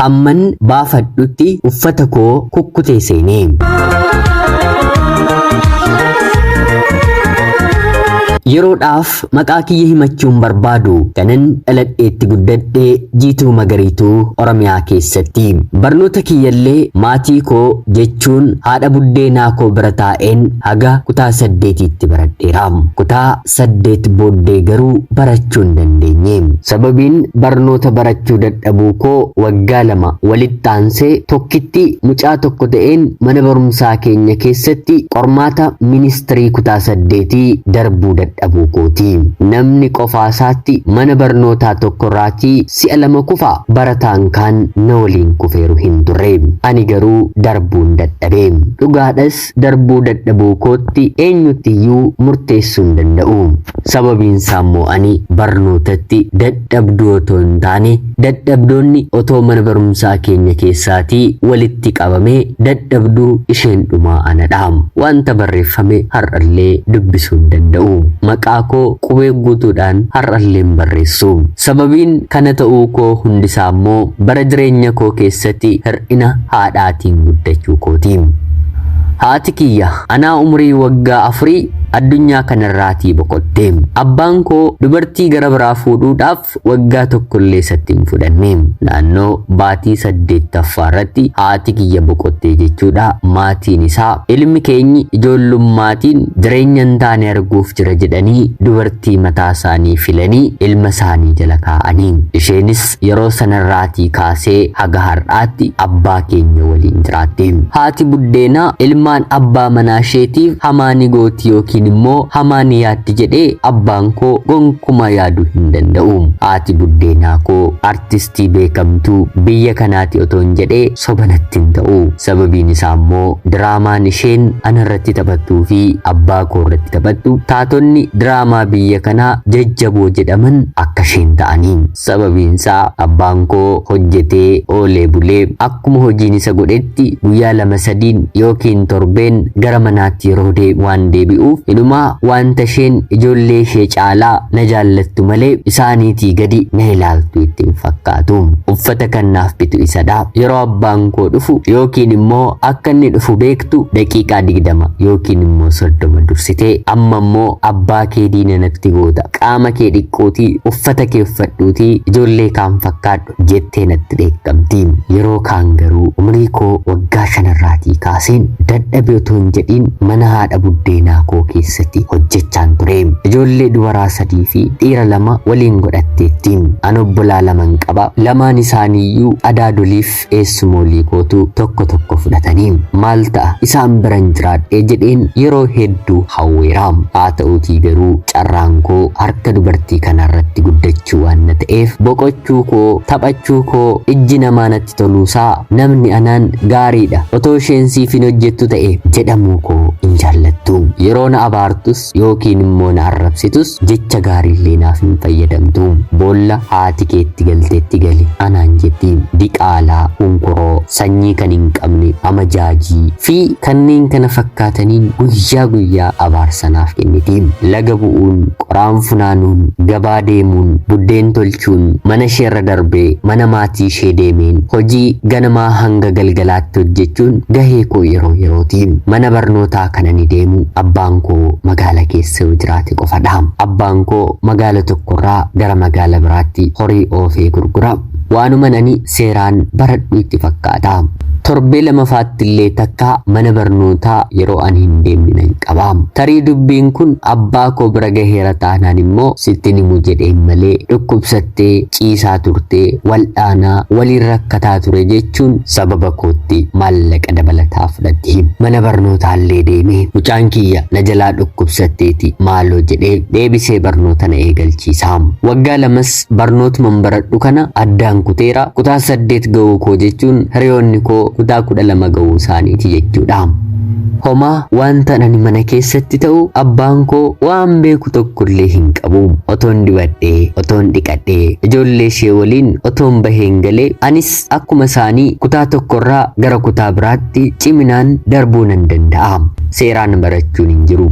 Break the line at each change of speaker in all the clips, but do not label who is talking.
Hamman baafadhutti uffata koo kukkutee seene. Yeroodhaaf maqaa kiyya himachuun barbaadu kanan dhaladheetti guddadhe jiituu magariituu Oromiyaa keessatti. Barnoota kiyyallee maatii koo jechuun haadha buddeenaa koo bira taa'een haga kutaa saddeetiitti baradheera. Kutaa 8 booddee garuu barachuu hin dandeenye. Sababiin barnoota barachuu dadhabuu koo waggaa lama walitti aansee tokkitti mucaa tokko ta'een mana barumsaa keenya keessatti qormaata ministirii kutaa saddeetii darbuu dadhabuu kooti. Namni qofaa isaatti mana barnootaa tokkorraatii si'a lama kufa barataan kaan na waliin kufeeru hin turre. Ani garuu darbuun dadhabe. Dhugaadhas darbuu dadhabuu kootti eenyutti iyyuu murteessuu hin danda'u. Sababiin isaa immoo ani barnootatti dadhabduu otoo hin taane dadhabdoonni otoo mana barumsaa keenya keessaatii walitti qabamee dadhabduu isheen dhumaa anadha. Wanta barreeffame har'allee dubbisuu hin danda'u. Maqaa koo qubee guutuudhaan har'allee hin barreessu. Sababiin kana ta'uu koo hundisaa immoo bara jireenya koo keessatti hir'ina haadhaatiin guddachuu kooti. Haati kiyya anaa umurii waggaa afurii addunyaa kanarraatii boqotte. Abbaan koo dubartii gara biraa fuudhuudhaaf waggaa tokkollee isatti hin fudhanne. Naannoo baatii saddeettaffaa irratti haati kiyya boqottee jechuudha maatiin isaa ilmi keenyi ijoollummaatiin jireenya hin taane arguuf jira jedhanii dubartii tii mataa isaanii filanii ilma isaanii jala kaa'aniin. Isheenis yeroo sanarraatii kaasee haga har'aatti abbaa keenya waliin jiraatti. Haati buddeenaa ilmaan abbaa manaa isheetiif hamaa ni gooti yookiin immoo hamaa ni yaaddi jedhee abbaan koo gonkumaa yaaduu hin danda'u. Haati buddeenaa koo artist Artistii beekamtuu biyya kanaati otoon jedhe soba natti hin ta'u. Sababiin isaa immoo diraamaan isheen ana irratti taphattuu fi abbaa koo irratti taphattu taatonni diraamaa biyya kanaa jajjaboo jedhaman akka isheen ta'anii. Sababiin isaa abbaan koo hojjetee oolee bulee Akkuma hojiin isa godhetti guyyaa lama sadiin yookiin torbeen gara manaatti yeroo deebi waan deebi'uuf inumaa waanta isheen ijoollee ishee caalaa na jaallattu malee isaaniitii gadi na ilaaltu itti hin fakkaatu. Uffata kan naaf bitu isadha. Yeroo abbaan koo dhufu yookiin immoo akka inni dhufu beektu daqiiqaa digdama yookiin immoo soddoma dursite amma immoo abbaa kee diina natti goota qaama kee dhiqqootii uffata kee uffadhuutii ijoollee kaan fakkaadhu jettee natti dheekkamti. Yeroo kaan garuu umrii koo waggaa shan irraatii kaaseen dadhabe otoo hin jedhiin mana haadha buddeenaa koo keessatti hojjechaan ture. Ijoollee dubaraa sadii fi dhiira lama waliin godhatteetti. An obbolaa laman qaba. Lamaan isaaniiyyuu adaadoliif eessumoolii kootu tokko tokko fudhatanii. Maal ta'a isaan biran jiraadhee jedheen yeroo hedduu hawweera. Haa ta'uutii garuu Carraan koo harka dubartii kanaarratti guddachuu waan na ta'eef boqochuu koo, taphachuu koo, ijji namaa natti toluusaa, namni anaan gaariidha, otoo isheen siif hin hojjettu ta'ee jedhamuu koo hin jaallattu. Yeroo na abaartus yookiin immoo na arrabsitus jecha gaariillee naaf hin fayyadamtu. Boolla haati kee itti galtetti gali anaan jetti. Diqaalaa, hunkuroo. sanyii kan hin qabne, amajaajii, fi kanneen kana fakkaataniin guyyaa guyyaa abaarsa naaf kenniti. Laga bu'uun, qoraan funaanuun, gabaa deemuun, buddeen tolchuun, mana isheerra darbee mana maatii ishee deemeen hojii ganamaa hanga galgalaatti hojjechuun gahee koo yeroo yerooti. Mana barnootaa kan ani deemu abbaan koo magaala keessa yoo jiraate qofadha. Abbaan koo magaala tokkorraa gara magaala biraatti horii oofee gurgura. Waanuman ani seeraan baradhu itti fakkaata. Torbee lamafaattillee takka mana barnootaa yeroo ani hin deemne nan qaba. Tarii dubbiin kun abbaa koo bira gaheera taanaan immoo sittin himu jedheen malee dhukkubsattee ciisaa turte, wal'aanaa, waliin rakkataa ture jechuun sababa kootti maallaqa dabalataa fudhati. Mana barnootaallee deeme. Mucaan kiyya na jalaa dhukkubsatteeti maaloo jedhee deebisee barnoota na eegalchiisa. Waggaa lamas Barnootuma baradhu kana addaan kuteera. Kutaa saddeet ga'uu koo jechuun hiriyoonni koo kutaa kudha lama ga'uu isaaniiti jechuudha. Homaa wanta ani mana keessatti ta'u abbaan koo waan beeku tokkollee hin qabu. Otoon dibadhee, otoon dhiqadhee, ijoollee ishee waliin otoon baheen galee anis Akkuma isaanii kutaa tokkorraa gara kutaa biraatti ciminaan darbuu nan danda'a. Seeraan barachuun hin jiru.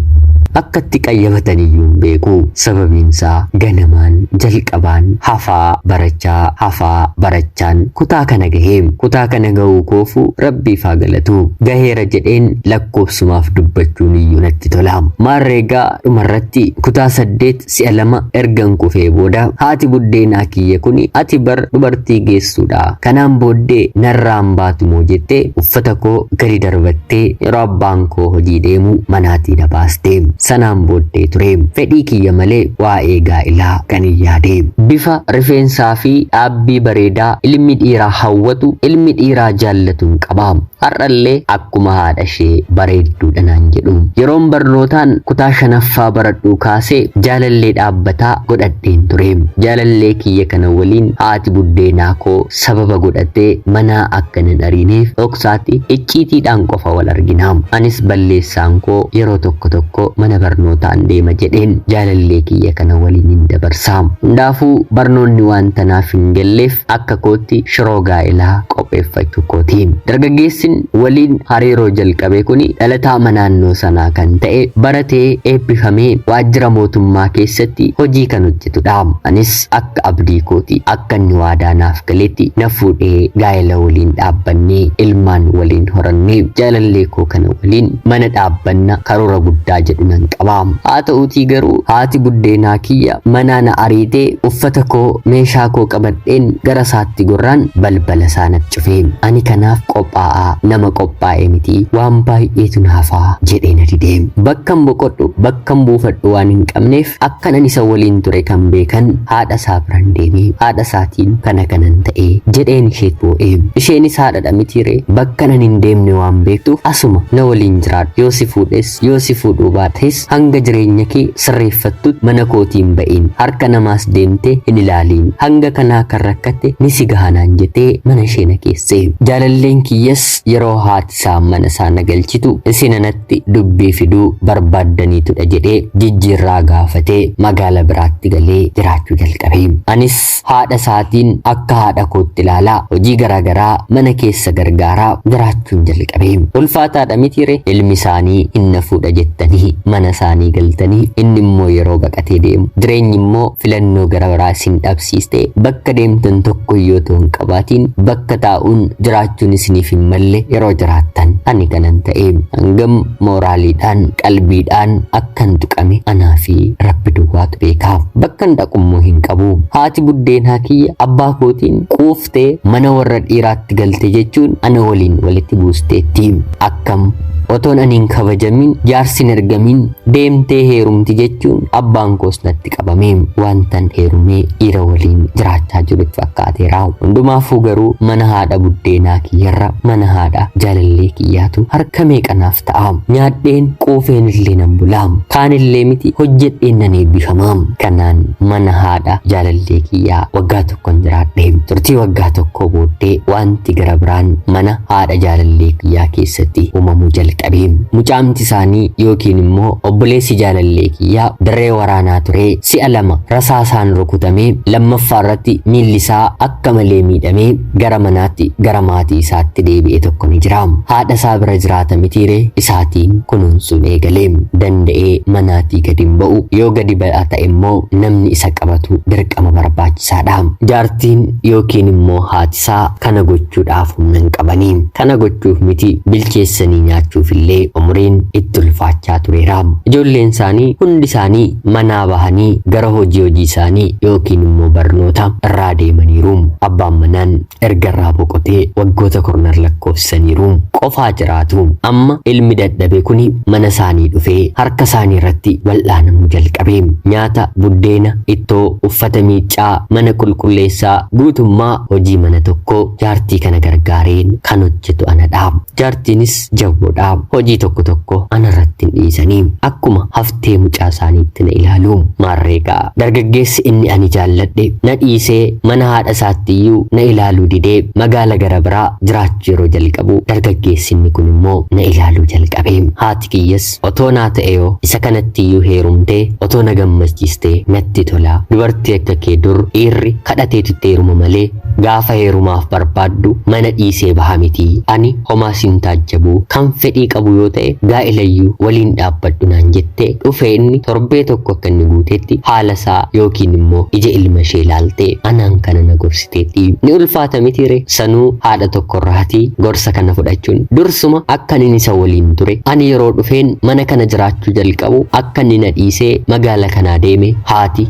Akka itti qayyabatan iyyuu hin beeku. Sababiinsaa ganamaan jalqabaan hafaa barachaa hafaa barachaan kutaa kana gahe. Kutaa kana gahuu koofu rabbiif haa galatu. Gaheera jedheen lakkoofsumaaf dubbachuun iyyuu natti tola. Maarreegaa dhumarratti kutaa saddeet Si'a lama ergan kufee booda haati buddeenaa kiyya kuni ati bar dubartii geessuudha kanaan booddee narraa hin baatumoo jettee uffata koo gadi darbattee yeroo abbaan koo hojii deemu manaatii na baaste. Sanaan booddee ture fedhii kiyya malee waa'ee gaa'ilaa kan hin yaade. Bifa rifeensaa fi dhaabbii bareedaa ilmi dhiiraa hawwatu ilmi dhiiraa jaallatuu hin qaba. Har'allee akkuma haadhashee bareedduudha naan jedhu. Yeroon barnootaan kutaa shanaffaa baradhuu kaasee jaalallee dhaabbataa godhadheen ture. Jaalallee kiyya kana waliin haati buddeenaa koo sababa godhattee manaa akka nan ariineef dhoksaatti icciitiidhaan qofa wal argina. Anis balleessaan koo yeroo tokko tokko mana barnootaan deema jedheen jaalallee kiyya kana waliinin dabarsa. Hundaafuu barnoonni waanta naaf hin galleef akka kootti shiroo gaa'elaa qopheeffachuu kooti. Dargaggeessin waliin hariiroo jalqabe kuni dhalataama naannoo sanaa kan ta'e, baratee eebbifamee waajjira mootummaa keessatti hojii kan hojjetudha. Anis akka abdii kooti. Akka inni waadaa naaf galetti na fuudhee gaa'ela waliin dhaabbanne. Ilmaan waliin horanne. Jaalallee koo kana waliin mana dhaabbanna karoora guddaa jedhu nan qaba. Haa ta'uutii garuu haati buddeenaa kiyya manaa na ariitee uffata koo, meeshaa koo qabadheen gara isaatti gorraan balbala isaa nat cufe. Ani kanaaf qophaa'aa nama qophaa'e miti waan baay'eetu na hafa jedhee na dide. Bakkan boqodhu, bakkan buufadhu waan hin qabneef akkanan isa waliin ture kan beekan haadha isaa biran deeme. Haadha isaatiin kana kanan ta'e jedheen isheet boo'e. Isheenis haadhadha mitiiree bakkan ani hin deemne waan beektuuf asuma na waliin jiraadhu yoo si fuudhes Yoo si fuudhuu baates hanga jireenya kee sirreeffattutti mana kootii hin ba'iin. Harka namaas deemtee hin ilaaliin. Hanga kanaa kan rakkatte ni si gaha naan jetee mana ishee na geesse. Jaalalleen kiyyas yeroo haati isaa mana isaa na galchitu isin anatti dubbii fiduu barbaaddaniitudha jedhee jijjiirraa gaafatee magaala biraatti galee jiraachuu jalqabe. Anis Haadha isaatiin akka haadha kootti ilaala. Hojii garaa garaa mana keessa gargaaraa jiraachuun jalqabe. Ulfaataadha mitiire ilmi isaanii hin nafuudha jettanii mana isaanii galtanii inni immoo yeroo baqatee deemu jireenyi immoo filannoo gara biraa isin dhabsiiste bakka deemtan tokko yoo ta'u hin qabaatiin bakka taa'uun jiraachuun isiniif hin malle yeroo jiraattan ani kanan ta'e hangam mooraaliidhaan qalbiidhaan akka Kan tuqame anaa fi Rabbi duwwaatu beeka. Bakkan dhaqummoo hin qabu. Haati buddeenaa kiyya abbaa kootiin quuftee mana warra dhiiraatti galte jechuun ana waliin walitti buusteetti. Akkam otoon ani hin kabajamin jaarsi hin ergamin deemtee heerumti jechuun abbaan koos natti qabame wantan heerumee dhiira waliin jiraachaa jirutti fakkaateera hundumaafuu garuu mana haadha buddeenaa kiyyarra mana haadha jaalallee kiyyaatu harka meeqa naaf ta'a nyaadheen quufeen illee nan bula kaan illee miti hojjedheen nan eebbifama kanaan mana haadha jaalallee kiyyaa waggaa tokkon jiraadhe. Turtii waggaa tokkoo booddee wanti gara biraan mana haadha jaalallee kiyyaa keessatti uumamuu jalqabe. Mucaamti isaanii yookiin immoo obboleessi jaalallee kiyyaa dirree waraanaa turee si'a lama rasaasaan rukutamee lammaffaa irratti miilli isaa akka malee miidhamee gara manaatti gara maatii isaatti deebi'e tokko ni jira. Haadha isaa bira jiraata mitiire isaatiin kunuunsuun eegale. Danda'ee manaatii gadi hin ba'u. Yoo gadi ba'aa ta'e immoo namni isa qabatu dirqama. dirqama barbaachisaadha. Jaartiin yookiin immoo haatisaa kana gochuudhaaf humna hin qabanii. Kana gochuuf miti bilcheessanii nyaachuuf illee umriin itti ulfaachaa tureera. Ijoolleen isaanii hundi isaanii manaa bahanii gara hojii hojii isaanii yookiin immoo barnoota irraa deemaniiru. Abbaan manaan erga irraa boqotee waggoota kurnan lakkoofsisaniiru qofaa jiraatu. Amma ilmi dadhabe kuni mana isaanii dhufee harka isaanii irratti wal'aanamuu jalqabe. Nyaata, buddeena, ittoo, uffata miiccaa, mana qulqulleessaa guutummaa hojii mana tokkoo jaartii kana gargaareen kan hojjetu anadha. Jaartiinis jabboodha. Hojii tokko tokko anarratti hin dhiisanii. Akkuma haftee mucaa isaaniitti na ilaalu. Maarreegaa dargaggeessi inni ani jaalladhe na dhiisee mana haadha isaattiyyuu na ilaaluu didee magaala gara biraa jiraachuu yeroo jalqabu dargaggeessi inni kun immoo na ilaaluu jalqabe. Haati kiyyas First. Otoo naa ta'eeyoo isa kanattiyyuu heerumtee otoo na gammachiistee natti tola. Dubartii akka kee dur dhiirri kadhateetu itti heeruma malee gaafa heerumaaf barbaaddu mana dhiisee baha miti. Ani homaa sin taajjabu. Kan fedhii qabu yoo ta'e gaa'ilayyuu waliin dhaabbadhu naan jette dhufee inni torbee tokko akka inni guuteetti haala isaa yookiin immoo ija ilma ishee ilaaltee anaan kana na gorsite. teetti. Ni ulfaata miti ree? Sanuu haadha tokkorraati gorsa kana fudhachuun. Dursuma akka nin isa waliin ture, ani yeroo dhufeen mana kana jiraachuu jalqabu akka inni na dhiisee magaala kanaa deeme haati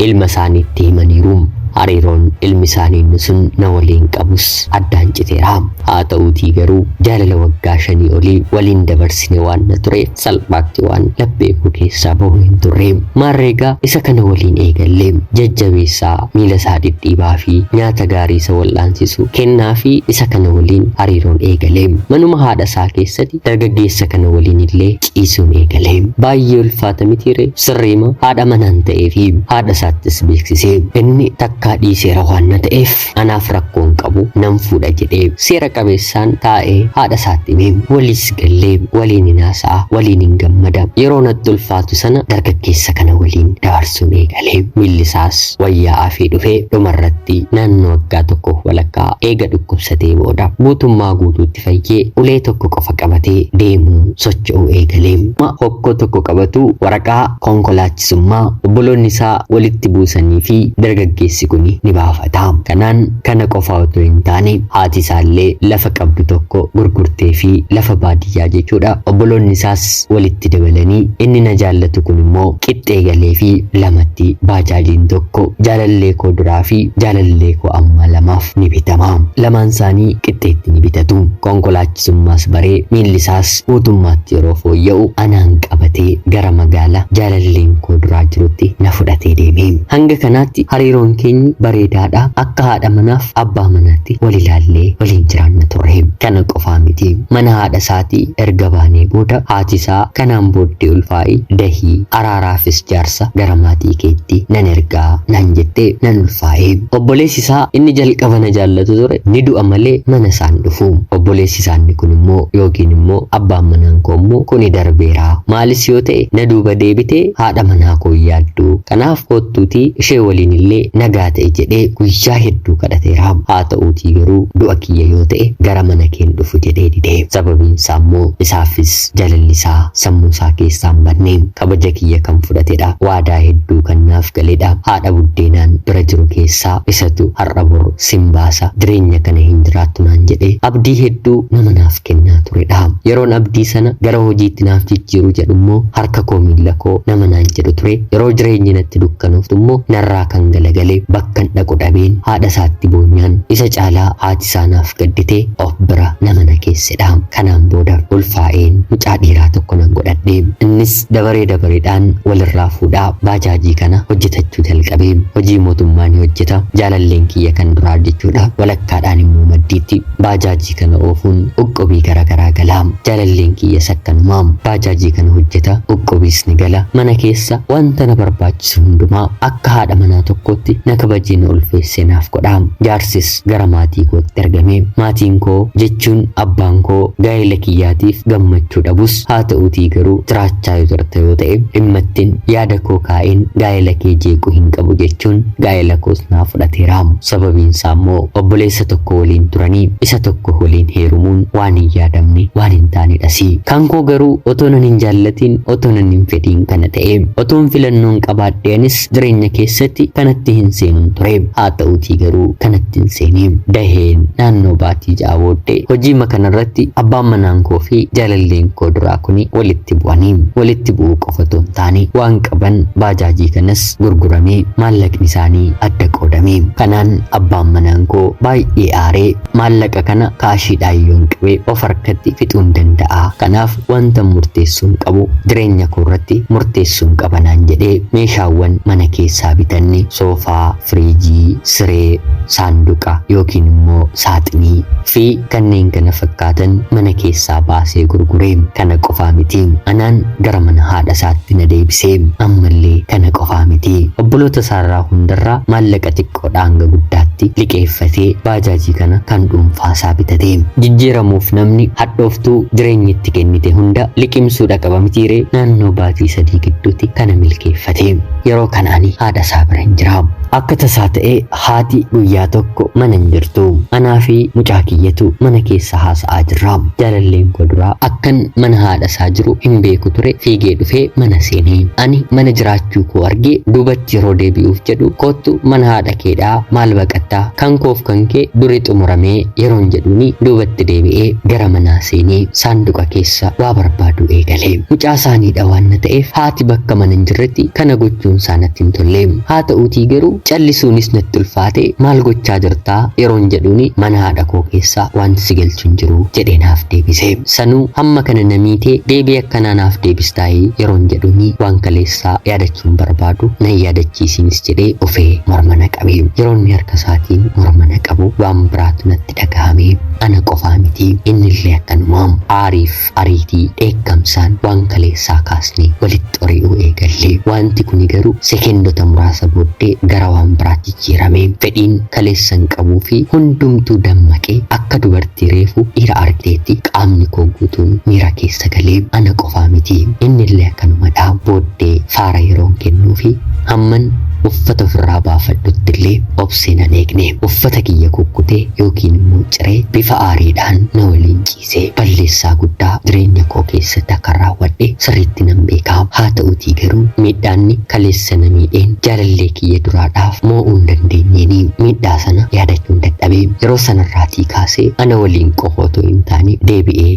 ilma isaaniitti himaniiru. Hariiroon ilmi isaanii inni sun na waliin qabus addaan citeera. Haa ta'uutii garuu jaalala waggaa shanii olii waliin dabarsine waan na tureef salphaatti waan laphee koo keessaa bahu hin turre maarreegaa isa kana waliin eegalle jajjabeessaa miila isaa dhidhiibaa fi nyaata gaarii isa wal'aansisu kennaa fi isa kana waliin hariiroon eegale manuma haadha isaa keessatti dargaggeessa kana waliin illee ciisuun eegale baay'ee ulfaata mitiire sirriima haadha manaan ta'ee fi haadha isaattis beeksise inni takkaa dhiiseera waan na ta'eef irratti anaaf rakkoo hin qabu nan fuudha jedhee seera qabeessaan taa'ee haadha isaatti hime waliis gallee waliin hin haasa'a waliin hin gammada yeroo natti ulfaatu sana dargaggeessa kana waliin dabarsuun eegalee miilli isaas wayyaa afee dhufee dhumarratti naannoo waggaa tokko walakkaa eega dhukkubsatee booda guutummaa guutuutti fayyee ulee tokko qofa qabatee deemuu socho'uu eegalee hokkoo tokko qabatu waraqaa konkolaachisummaa obboloonni isaa walitti buusanii fi dargaggeessi kuni ni baafata. Kanaan kana qofa otoo hin taane haati isaallee lafa qabdu tokko gurgurtee fi lafa baadiyyaa jechuudha. Obboloonni isaas walitti dabalanii inni na jaallatu kun immoo qixxee galee fi lamatti baajaajiin tokko jaalallee koo duraa fi jaalallee koo ammaa lamaaf ni bitama. Lamaan isaanii qixxeetti ni bitatu. Konkolaachi Summaas baree miillisaas guutummaatti yeroo fooyya'u anaan qabatee gara magaala jaalalleen koo duraa jirutti na fudhatee deeme. Hanga kanaatti hariiroon keenyi bareedaadha. Akka haadha manaaf abbaa manaatti wal ilaallee waliin jiraanna turre. Kana qofaa miti. Mana haadha isaatii erga baanee booda haati isaa kanaan booddee ulfaa'i, dahii, araaraafis jaarsa gara maatii keetti nan erga naan jettee nan ulfaa'e. Obboleessi isaa inni jalqaba na jaallatu ture Ni du'a malee mana isaa hin dhufu. Obboleessi isaa inni kun immoo yookiin immoo abbaan manaan koo immoo kuni darbeera. Maalis yoo ta'e na duuba deebitee haadha manaa koo hin yaaddu. Kanaaf koottuutii ishee waliin illee nagaa ta'i jedhee guyyaa hedduu kadhateera. Haa ta'uutii garuu du'a kiyya yoo ta'e gara mana kee hin dhufu jedhee dide. Sababiin isaa immoo isaafis jalalli isaa sammuu isaa keessaa hin badne. Kabaja kiyya kan fudhatedha. Waadaa hedduu kan naaf galedha. Haadha buddeenaan bira jiru keessaa isatu har'a bor sin baasa jireenya kana hin jiraattu naan jedhee abdii hedduu nama naaf kennaa turedha. Yeroon abdii sana gara hojiitti naaf jijjiiru jedhu immoo harka koo miilla koo nama naan jedhu ture. Yeroo jireenyi natti dukkanooftu immoo narraa kan galagale bakkan dhaqu dhabeen haadha isaatti boonyaan isa caalaa haati isaa naaf gaddite of bira nama na keessedha. Kanaan booda ulfaa'een mucaa dhiiraa tokko nan godhadhe. Innis Dabaree dabareedhaan walirraa fuudhaa baajaajii kana hojjetachuu jalqabe. Hojii mootummaa ni hojjeta. Jaalalleen kiyya kan duraa jechuudha. Walakkaadhaan immoo maddiitti baajaajii kana oofuun qoqqobii garagaraa gala. Jaalalleen kiyyas akkanuma. Baajaajii kana hojjeta, qoqqobiis ni gala. Mana keessa wanta na barbaachisu hundumaa akka haadha manaa tokkootti na kabajee na ulfeessee naaf godha. Jaarsis gara maatii kootti ergame. Maatiin koo jechuun abbaan koo gaa'ela kiyyaatiif gammachuu dhabus haa ta'uutii garuu jiraachaa yoo jirta yoo ta'e dhimma ittin yaada koo kaa'een gaa'ela kee jeequu hin qabu jechuun gaa'ela koos naa fudhateera. Sababiin isaa immoo obboleessa tokko waliin turanii isa tokko waliin heerumuun waan hin yaadamne waan hin taanedhasi. Kan koo garuu otoo nan hin jaallatiin otoo nan hin fedhiin kana ta'e. Otoon filannoon qabaadhee anis Jireenya keessatti kanatti hin seenun ture. Haa ta'uutii garuu kanatti hin seene. Daheen naannoo baatii ja'a booddee hojiima kanarratti abbaan manaan koo fi jaalalleen koo duraa kuni walitti bu'ani. Walitti bu'uu qofa otoo hin taane waan qaban baajaajii kanas gurguramee maallaqni isaanii adda qoodame. Kanaan abbaan manaan koo baay'ee aaree Maallaqa kana kaashiidhaan yoon qabe of harkatti fixuun danda'a. Kanaaf wantan murteessuun qabu jireenya koorratti murteessuun qaba naan jedhee meeshaawwan mana keessaa bitanne soofaa, firiijii, siree, saanduqa yookiin immoo saaxinii fi kanneen kana fakkaatan mana keessaa baasee gurgure. Kana qofaa miti. Anaan gara mana haadha isaatti na deebise. Ammallee kana qofaa miti. Obboloota isaarraa hundarraa maallaqa xiqqoo xiqqoodhaa hanga guddaatti liqeeffatee baajaajii kana kan dhuunfaasaa bitate. Jijjiiramuuf namni hadhooftuu jireenyi itti kennite hunda liqimsuudha qaba mitiiree naannoo baatii sadii gidduuti kana milkeeffate. Yeroo kana ani haadha isaa bira hin jira. Akka tasaa ta'ee haati guyyaa tokko mana hin jirtu. Anaa fi mucaa kiyyatu mana keessa haasa'aa jirra. Jaalalleen koo duraa akkan mana haadha isaa jiru hin beeku ture fiigee dhufee mana seene. Ani mana jiraachuu koo argee duubatti yeroo deebi'uuf jedhu koottu mana haadha keedhaa maal baqattaa kan koof kan kee duri xumuramee yeroon jedhuuni duubatti deebi'ee gara manaa seenee saanduqa keessa waa barbaaduu eegale mucaa saaniidha waan na ta'eef haati bakka mana hin jirretti kana gochuun isaa natti hin tolle haa ta'uutii garuu callisuunis natti ulfaate maal gochaa jirtaa yeroon jedhuuni mana haadha koo keessa wanti si galchu hin jiru jedhee naaf deebise sanuu hamma kana na miitee deebii akkanaa naaf deebistaayii yeroon jedhuuni waan kaleessa isaa yaadachuun barbaadu na hin yaadachiisiinis jedhee ofee morma na qabe. Yeroo inni harka isaatiin morma na qabu waan biraatu natti dhagahame. Ana qofaa miti innillee akkanuma. Aariif ariitii, dheekkamsaan waan kaleessaa kaasnee walitti ori'uu eegalle. Waanti kuni garuu sekeendota muraasa booddee gara waan biraatti jijjiirame. Fedhiin kaleessan qabuu fi hundumtuu dammaqee akka dubartii reefu dhiira argdeetti qaamni koo guutuun miira keessa galee ana qofaa miti innillee akkanumadha booddee faara yeroon kennuufi hamman uffata ofirraa baafadhuttillee obsee nan eegne uffata kiyya kukkutee yookiin immoo ciree bifa aariidhaan na waliin ciise. dhiisee balleessaa guddaa jireenya koo keessatti akkan raawwadhe sirriitti nan beeka. Haata'uutii garuu miidhaanni kaleessa na miidheen jaalallee kiyya duraadhaaf moo'uu hin dandeenyeeni. Miidhaa sana yaadachuun dadhabe. Yeroo sanarraatii kaasee ana waliin qofa otoo hin taane deebi'ee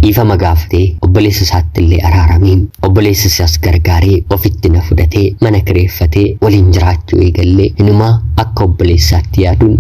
dhiifama gaafatee obboleessa isaattillee araarame. Obboleessa isaas gargaaree ofitti na fudhatee mana kireeffatee waliin jiraachuu eegalle inumaa akka obboleessaatti yaaduun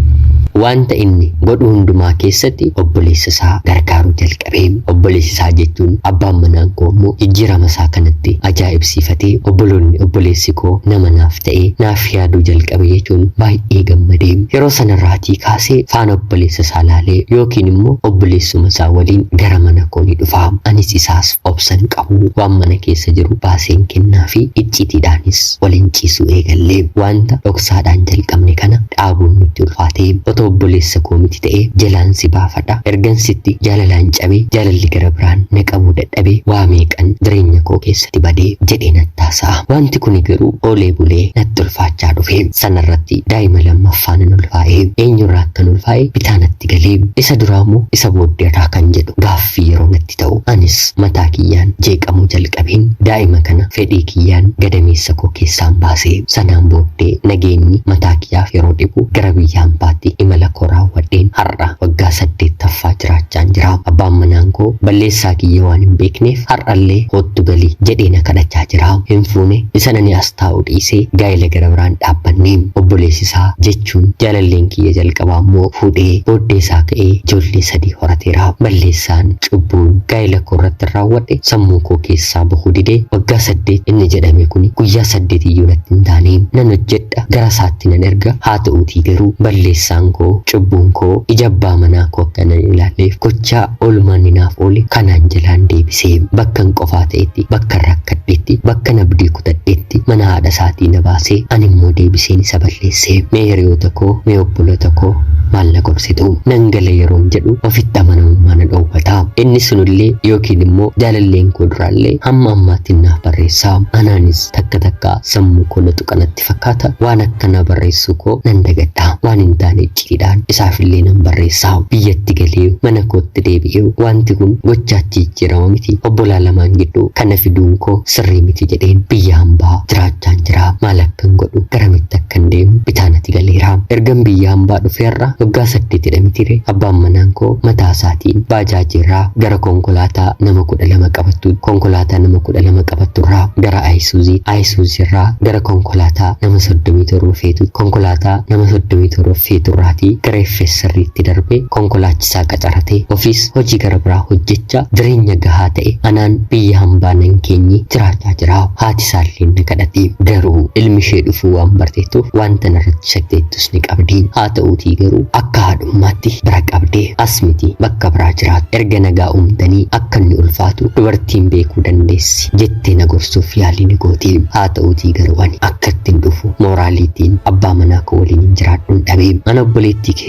wanta inni godhu hundumaa keessatti obboleessa isaa gargaaruu jalqabe. Obboleessi isaa jechuun abbaan manaan koo immoo jijjiirama isaa kanatti ajaa'ibsiifatee obboloonni obboleessi koo nama naaf ta'ee naaf yaaduu jalqabe jechuun baay'ee gammade. Yeroo sanarraatii kaasee faana obboleessa isaa laalee yookiin immoo obboleessuma isaa waliin gara mana koo ni dhufa. Anis isaas obsan qaba. qabu waan mana keessa jiru baaseen kennaafi icciitiidhaanis waliin ciisuu eegalle. Waanta dhoksaadhaan jalqabne kana dhaabuun nutti ulfaate. Otoo obboleessa koo miti ta'ee jalaan si baafadha. Ergan sitti jaalalaan cabee jaalalli gara biraan na qabuu dadhabee waa meeqan jireenya koo keessati bade jedhee natti haasa'a. Waanti kuni garuu oolee bulee natti ulfaachaa dhufe. Sanarratti daa'ima lammaffaa nan ulfaa'e. Eenyurraa akkan ulfaa'e bitaa natti gale. Isa duraamo isa booddeerraa kan jedhu gaaffii yeroo natti itti ta'u anis mataa kiyyaan jeeqamuu jalqabeen daa'ima kana fedhii kiyyaan gadameessa koo keessaan baase. Sanaan booddee nageenyi mataa kiyyaaf yeroo dhibu gara biyya ambaatti imala koo raawwadheen har'a waggaa saddeettaffaa jiraachaan jira. Abbaan manaan koo balleessaa kiyya waan hin beekneef har'allee koottu gali jedhee na kadhachaa jira. Hin fuune isa nani as taa'u dhiisee gaa'ela gara biraan dhaabbanne. Obboleessi isaa jecha jechuun jaalalleen kiyya jalqabaa immoo fuudhee booddee isaa ka'ee ijoollee sadii horateera. Balleessaan, cubbuun, gaa'ila koo irratti raawwadhe sammuu koo keessaa bahuu dide. Waggaa saddeet inni jedhame kuni guyyaa saddeet iyyuu natti hin taane. Nan hojjedha, gara isaatti nan erga, haa ta'uutii garuu balleessaan koo, cubbuun koo ija abbaa manaa koo akka nan ilaalleef gochaa oolmaanni naaf oole kanaan jalaan deebise. Bakkan qofaa ta'etti, bakkan rakkadhetti, bakkan abdii kutadheetti mana haadha isaatii na baase, ani immoo deebiseen isa balleesse. Mee hiriyoota koo, mee obboloota koo maal na gorsitu? Nan gala yeroon jedhu ofitti amanamummaa na dhoowwata. Inni sunillee yookiin immoo jaalalleen koo duraallee hamma ammaattiin naaf barreessa. Anaanis takka takka sammuu koo na tuqa natti fakkaata, waan akkanaa barreessuu koo nan dagadha. Waan hin taane icciidhaan isaafillee nan barreessa. Biyyatti galee mana kootti deebi'ee wanti kun gochaatti jijjiirama miti. Obbolaa lamaan gidduu kana fiduun koo Sirrii miti jedheen biyya hambaa jiraachaan jira. Maal akkan godhu, garamitti akkan deemu bitaa nati galeera. Ergan biyya hambaa dhufee har'a waggaa saddeetidha mitiire abbaan manaan koo mataa isaatiin baajaajii irraa gara konkolaataa nama kudha lama qabattu, konkolaataa nama kudha lama qabattu irraa gara Ayisuuzii, Ayisuuzii irraa gara konkolaataa nama soddomii torba feetu, konkolaataa nama soddomii torba feetu irraatii gara FSRtti darbee konkolaachisa isaa qacaratee ofiis hojii gara biraa hojjechaa jireenya gahaa ta'e anaan biyya hambaa nan keenye jiraachaa jira. Haati isaalleen na kadhati. Garuu ilmi ishee dhufuu waan barteettuuf wanta narratti shakteettus ni qabdi. Haa ta'uutii garuu akka haadhummaatti bira qabde. As miti bakka biraa jiraatu. Erga nagaa uumtanii akka inni ulfaatu dubartiin beekuu dandeessi jettee na gorsuuf yaalii ni gooti. Haa ta'uutii garuu ani akka ittiin dhufu mooraaliitiin abbaa manaa koo waliin hin jiraadhun dhabe. Ana obboleettii kee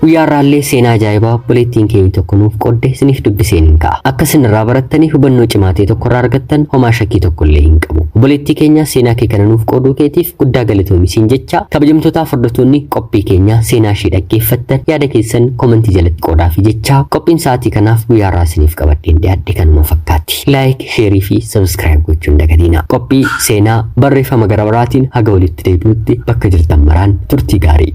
Guyyaa irraallee seenaa ajaa'ibaa obboleettiin keenya tokko nuuf qodde isiniif dubbiseen hin ka'a. Akka isin irraa barattanii hubannoo cimaa ta'e tokko irraa argattan homaa shakkii tokko illee hin qabu. Obboleettii keenya seenaa kee kana nuuf qooduu keetiif guddaa galatoomi siin jecha kabajamtootaa hordoftoonni qophii keenya seenaa ishee dhaggeeffattan yaada keessan komentii jalatti qoodaa fi jecha qophiin sa'aatii kanaaf guyyaa irraa isiniif qabadheen dhiyaadhe kanuma fakkaatti. Like, sheerii fi sabiskiraayib gochuun dagatiina. Qophii seenaa barreeffama gara baraatiin haga walitti deebinutti bakka jirtan maraan turtii gaarii.